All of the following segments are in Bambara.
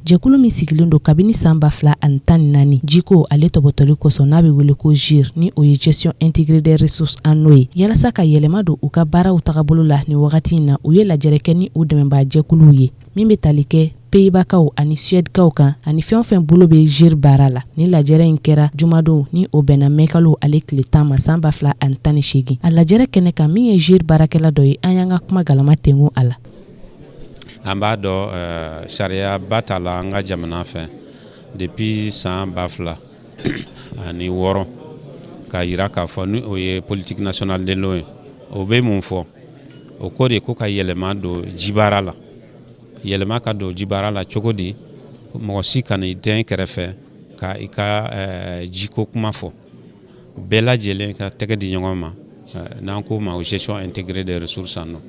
Jɛkulu min sigilen don kabini san ba fila ani tan ni naani jiko ale topotoli kosɔn n'a bɛ wele ko GIRE ni o ye gestion intégrée des ressources en eau ye yalasa ka yɛlɛma don u ka baaraw tagabolo la nin wagati in na u ye lajɛrɛ kɛ ni u dɛmɛnbaa jɛkuluw ye min bɛ tali kɛ Pays-Baskaw ani suɛdikaw kan ani fɛn o fɛn bolo bɛ GIRE baara la nin lajɛrɛ in kɛra jumadon ni o bɛnna mɛkalo ale tile tan ma san ba fila ani tan ni seegin a lajɛrɛ kɛnɛ kan min ye GIRE baarakɛla dɔ ye an y'an ka kuma galama tengu a la An b'a dɔn ɛɛ sariyaba tala an ka jamana fɛ depuis san 2000 ani wɔɔrɔ k'a jira k'a fɔ ni o ye politique nationale de l'eau ye o bɛ mun fɔ o ko de ko ka yɛlɛma don jibaara la yɛlɛma ka don jibaara la cogo di mɔgɔ si kana i dɛn i kɛrɛfɛ ka i ka jiko kuma fɔ bɛɛ lajɛlen ka tɛgɛ di ɲɔgɔn ma eh, n'an k'o ma gestion intégrée des ressources en eau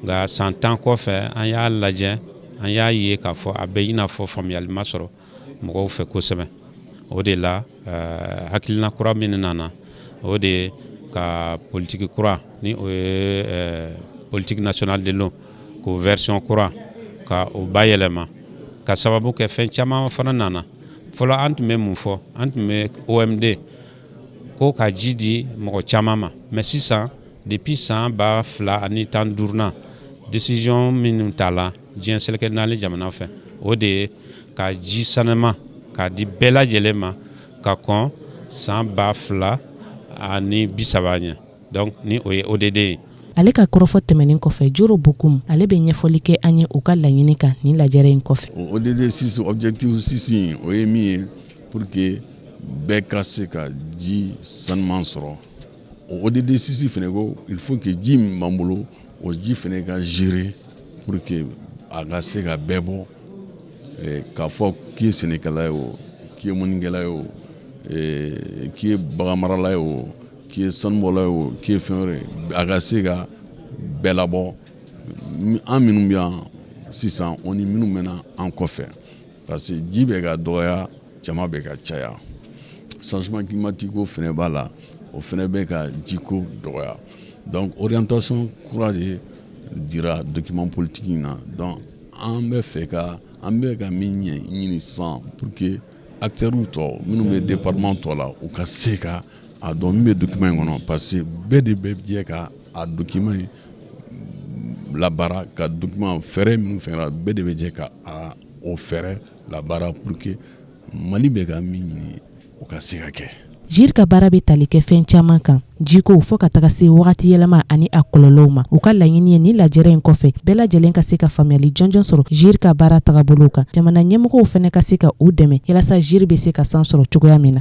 nka san tan kɔfɛ an y'a lajɛ an y'a ye k'a fɔ a bɛ i n'a fɔ faamuyali ma sɔrɔ mɔgɔw fɛ kosɛbɛ o de la eh, hakilina kura min nana o de ye ka politique kura ni o ye eh, politique nationale de l'eau k'o version kura ka o bayɛlɛma k'a sababu kɛ fɛn caman fana nana fɔlɔ an tun bɛ mun fɔ an tun bɛ OMD ko ka ji di mɔgɔ caman ma mais sisan depuis san ba fila ani tan ni duuru na décision minnu tala diɲɛ seleke naani jamana fɛ o de ye ka ji saniman k'a di bɛɛ lajɛlen ma ka kɔn san ba fila ani bi saba ɲɛ Donc ni o ye ODD ye. Ale ka kɔrɔfɔ tɛmɛnen kɔfɛ Joro Bokoum ale bɛ ɲɛfɔli kɛ an ye u ka laɲini kan nin lajɛrɛ in kɔfɛ. O ODD 6 objectif 6 in o ye min ye pour que bɛɛ ka se ka ji sanuman sɔrɔ. O ODD 6 fɛnɛ ko il faut que ji min b'an bolo o ji fɛnɛ ka gérer pour que a ka se ka bɛɛ bɔ eh, k'a fɔ k'i ye sɛnɛkɛla ye o k'i ye mɔnikɛla ye o eh, k'i ye baganmarala ye o K'i ye sanubɔla ye o k'i ye fɛn wɛrɛ ye a ka se ka bɛɛ labɔ an minnu bɛ yan sisan o ni minnu bɛ na an kɔfɛ parce que ji bɛ ka dɔgɔya jama bɛ ka caya changement climatique ko fana b'a la o fana bɛ ka jiko dɔgɔya donc orientation kura de dira document politique in na donc an b'a fɛ ka an bɛ ka min ɲɛ ɲini sisan pour que Acteurw tɔ minnu bɛ département tɔ la u ka se ka a dɔn min bɛ document in kɔnɔ parce que bɛɛ de bɛ jɛ ka a document in labaara ka document fɛɛrɛ minnu fɔra bɛɛ de bɛ jɛ ka o fɛɛrɛ labaara pour que Mali bɛ ka min ɲini o ka se ka kɛ Jiri ka baara bɛ tali kɛ fɛn caman kan jiko fo ka taga se wagati yɛlɛma ani a kɔlɔlɔw ma u ka laɲini ye nin lajɛ in kɔfɛ bɛɛ lajɛlen ka se ka faamuyali jɔnjɔn sɔrɔ jiri ka baara taabolow kan jamana ɲɛmɔgɔw fana ka se ka u dɛmɛ walasa jiri bɛ se ka san sɔrɔ cogoya min na